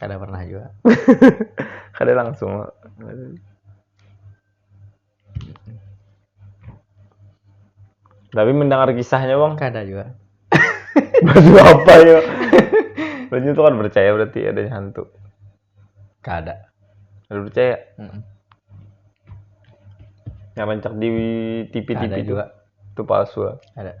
kada pernah juga kada langsung tapi mendengar kisahnya bang kada juga baju apa ya baju itu kan percaya berarti ada hantu kada ada percaya mm -mm. yang rancak di TV TV itu juga itu palsu lah ada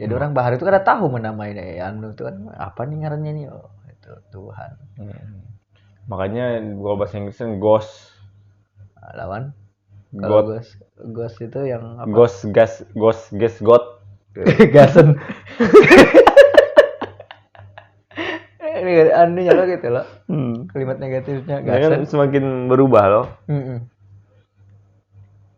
jadi hmm. orang bahar itu kada tahu menamai eh, anu itu kan apa nih ngarannya nih oh, itu Tuhan hmm. makanya kalau bahasa Inggris kan ghost ah, lawan kalau ghost ghost itu yang apa? ghost gas ghost gas god gasen ini anu nyala gitu loh hmm. kalimat negatifnya gasen kan semakin berubah loh hmm -hmm.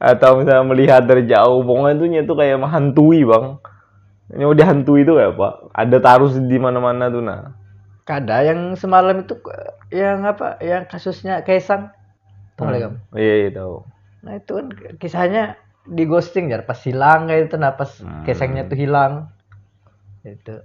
atau misalnya melihat dari jauh pokoknya tuh nyetu kayak menghantui bang ini udah hantui itu kayak apa ada tarus di mana-mana tuh nah kada yang semalam itu yang apa yang kasusnya Kaisang tahu hmm. kamu iya iya tahu nah itu kan kisahnya di ghosting ya pas hilang kayak itu nah pas hmm. Kaisangnya tuh hilang itu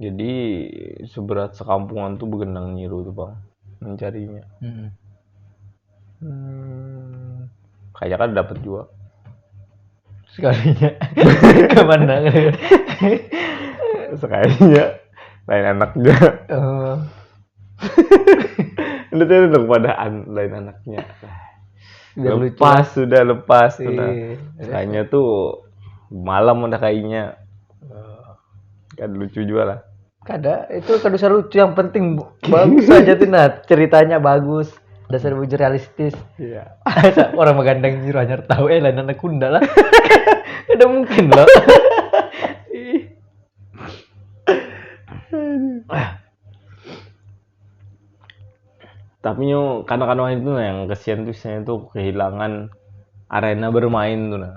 jadi seberat sekampungan tuh begenang nyiru tuh bang mencarinya hmm. Hmm, kayaknya kan dapat juga sekalinya kemana sekalinya lain anak juga oh. itu tuh kepadaan lain anaknya Biar lepas lucu. sudah lepas iya. tuh nah. kayaknya tuh malam udah kayaknya Kada lucu juga lah. Kada, itu kada usah lucu. Yang penting bagus aja tuh nah ceritanya bagus. Dasar bujur realistis. Iya. Orang magandang nyiru hanyar tahu eh lain anak kunda lah. Kada mungkin loh. Tapi nyu kanak-kanak itu nah yang kesian tuh saya tuh kehilangan arena bermain tuh nah.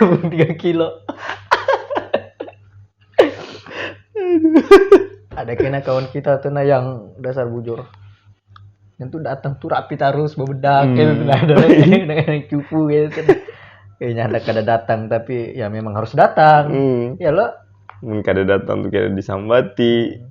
Amun tiga kilo. Ada kena kawan kita tuh nah yang dasar bujur. Yang tuh datang tuh rapi tarus bebedak hmm. gitu nah ada yang cupu gitu. Kayaknya ada kada datang tapi ya memang harus datang. Hmm. Ya lo. Mun kada datang tuh kira disambati. Hmm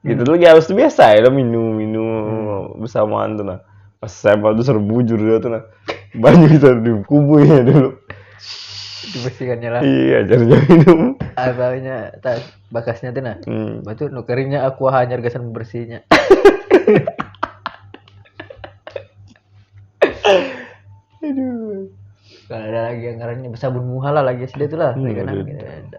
gitu hmm. lagi harus tuh biasa ya minum minum hmm. bersamaan tuh nah pas saya tuh seru bujur dia tuh nah banyak itu di kubu ya dulu dibersihkannya lah iya jadi minum abahnya tas bakasnya tuh nah hmm. batu nu keringnya aku hanyar gasan bersihnya aduh kalau ada lagi yang ngarannya sabun muhala lagi sih itu lah hmm, gitu.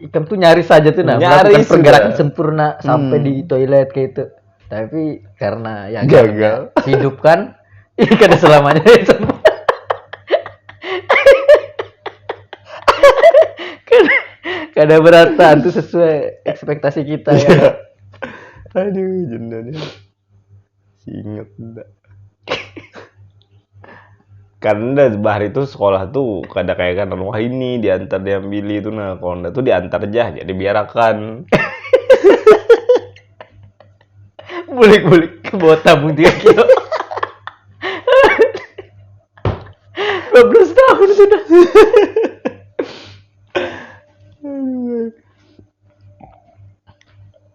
ikam tuh nyaris saja tuh nah melakukan pergerakan sempurna hmm. sampai di toilet kayak itu tapi karena ya gagal hidup kan ya kada selamanya kada kada berata tuh sesuai ekspektasi kita ya iya. aduh jendanya si inget dah kan dah bahari itu sekolah tuh kada kayak kan wah ini diantar diambil itu nah kalau ndak tuh diantar jah jadi biarakan bulik bulik ke bawah tabung tiga kilo 12 tahun sudah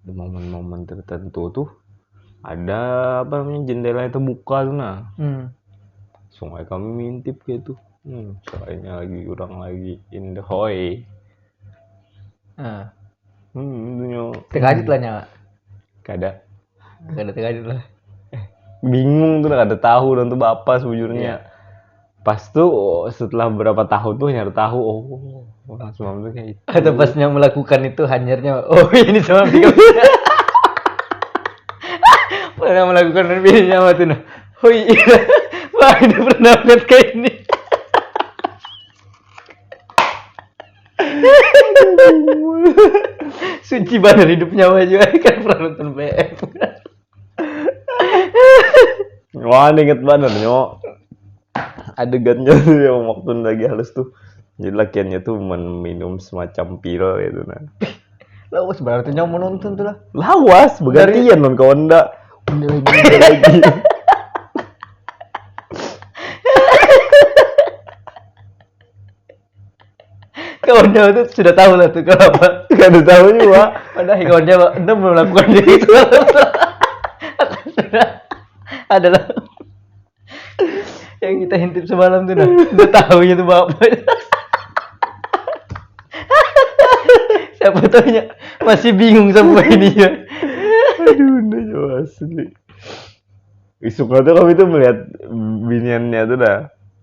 di momen-momen tertentu tuh ada apa namanya jendelanya terbuka tuh nah hmm. sungai kami mintip gitu hmm, soalnya lagi orang lagi in the hoy ah. hmm, dunia terkajut lah nyawa kada kada terkajut lah eh, bingung tuh kada tahu dan tuh bapak sejujurnya yeah. pas tuh oh, setelah beberapa tahun tuh nyari tahu oh orang semalam tuh kayak itu atau pasnya melakukan itu hanyarnya oh ini semalam tiga pernah melakukan ini apa tuh nah oh iya wah ini pernah lihat kayak ini suci banget hidupnya aja kan pernah nonton BF Wah, inget banget nyo adegannya tuh yang waktu lagi halus tuh. Jadi lakiannya tuh minum semacam pil gitu nah. Lawas berarti nyo menonton tuh lah. Lawas bergantian non kawan ndak. kawannya itu sudah tahu lah tuh kenapa nggak ada tahu juga ada kawannya anda belum melakukan itu adalah yang kita hintip semalam tuh nah udah tahu itu bapak siapa tanya masih bingung sama ini ya aduh udah jauh asli isuk tuh kami tuh melihat biniannya tuh dah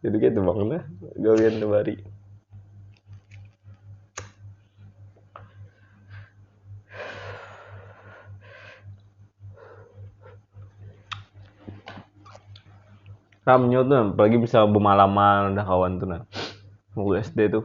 gitu gitu bang lah gawian kembali ramnya tuh apalagi bisa bemalaman udah kawan tuh nah waktu SD tuh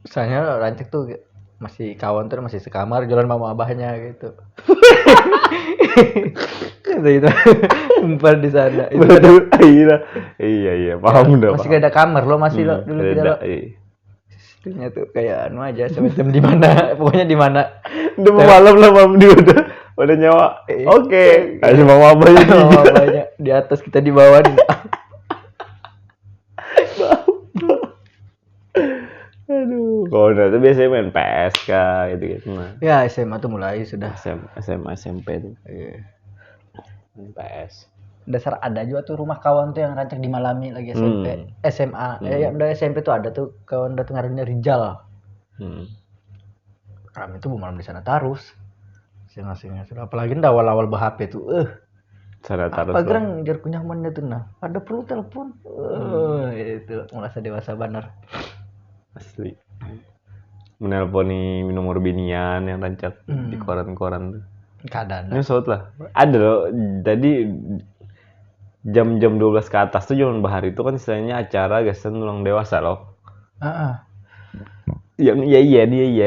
Misalnya rancak tuh masih kawan tuh masih sekamar jualan mama abahnya gitu. Kata itu empat di sana. Itu ada, Betul, iya, iya, iya, paham udah. masih paham. ada kamar lo masih lo Hmm, dulu kita beda, lo. iya. Itunya tuh kayak anu aja semacam di mana pokoknya di mana. Udah mau malam lah mam dia udah udah nyawa. Eh, Oke, kasih mama apa ya? Mama abahnya di atas kita di bawah. Aduh, kalau itu biasanya main PS kah gitu gitu mah. Ya SMA tuh mulai sudah. SMA, SMA SMP tuh. Iya. Main PS. Dasar ada juga tuh rumah kawan tuh yang rancak dimalami lagi SMP, hmm. SMA. Hmm. Eh, ya, udah SMP tuh ada tuh kawan datang harinya Rijal. Hmm. Kami tuh malam di sana terus. Sing-sing. Apalagi awal-awal berhp tuh, eh. Uh Sanatar apa gerang jar kunyamannya tuh nah ada perlu telepon uh, itu merasa dewasa banar asli menelponi nomor binian yang rancak hmm. di koran-koran tuh keadaan nyesot lah ada loh tadi jam-jam 12 ke atas tuh zaman bahar itu kan istilahnya acara gasan ulang dewasa loh uh -uh. yang iya iya dia iya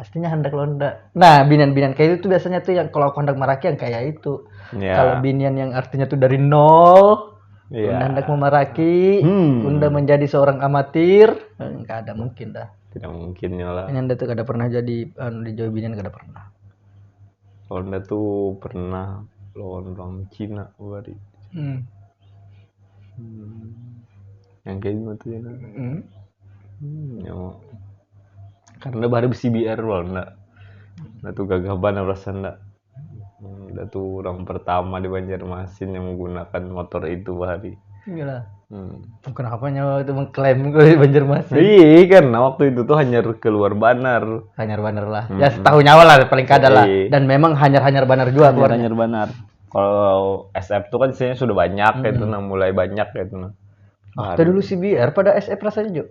pastinya handak londa nah binian-binian kayak itu tuh biasanya tuh yang kalau aku hendak meraki yang kayak itu yeah. kalau binian yang artinya tuh dari nol yeah. Unda hendak memaraki hmm. Unda menjadi seorang amatir nggak ada mungkin dah tidak mungkin ya lah ini Unda tuh kada pernah jadi anu di Jawa binian kada pernah Unda tuh pernah lawan orang Cina kemarin hmm. hmm. yang kayak gimana tuh ya hmm. hmm, ya karna bahari bcbr pang na na tu gagah banar rasanya na na tu orang pertama di Banjarmasin yang menggunakan motor itu bahari iyalah hmm. kenapa nyawa itu mengklaim kalau di Banjarmasin iya kan nah, waktu itu tuh hanyar keluar banar hanyar banar lah hmm. ya setahu nyawa lah paling kada lah iya. dan memang hanyar hanyar banar juga hanyar hanyar banar kalau SF tuh kan isinya sudah banyak hmm. itu nah mulai banyak itu nah Waktu dulu CBR pada SF rasanya juga.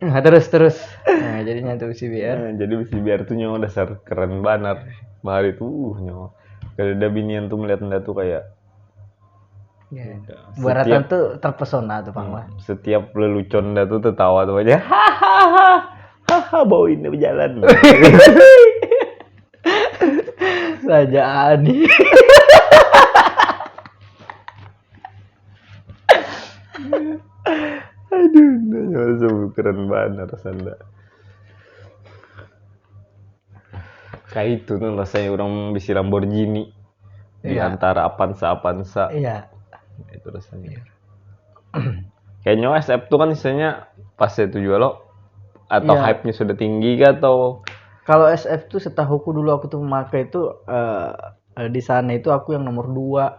Nah, terus terus. Nah, jadi nyatu bisi biar. Nah, jadi bisi biar tuh nyawa dasar keren banar. Bahari tuh uh, nyawa. Kadada binian tuh melihat anda tuh kayak Ya. Baratan tuh terpesona tuh Pang. Hmm, setiap lelucon anda tuh tertawa tuh aja. Hahaha. Hahaha bau ini berjalan. Saja ani. Aduh, nyawa keren banget rasanya. Kayak itu tuh rasanya orang bisi Lamborghini di iya. antara Avanza Avanza. Iya. Itu rasanya. Kayaknya SF tuh kan misalnya pas itu juga lo atau iya. hype-nya sudah tinggi gak atau kalau SF tuh setahuku dulu aku tuh memakai itu uh, di sana itu aku yang nomor dua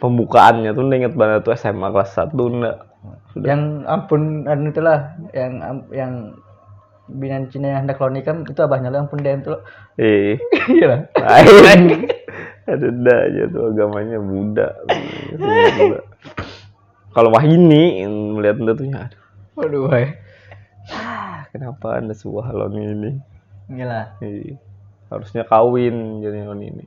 pembukaannya tuh inget banget tuh SMA kelas satu ndak yang ampun anu itulah yang yang binan Cina yang hendak lo nikah itu abahnya lo yang pun DM tuh iya iya lah ada dah aja tuh agamanya Buddha kalau wahini melihat anda tuh ya waduh hai ah, kenapa anda suah lo ini inilah iya. harusnya kawin jadi lo ini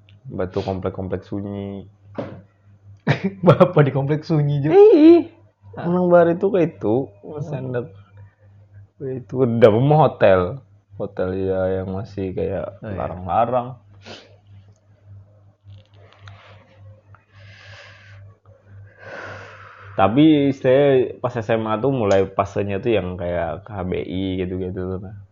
Batu komplek-komplek sunyi. Apa di komplek sunyi juga? Ih, Anang Bari itu kayak itu, sendak itu udah mau hotel, hotel ya yang masih kayak oh, iya. larang-larang. Tapi saya pas SMA tuh mulai pasenya tuh yang kayak KBI gitu-gitu tuh.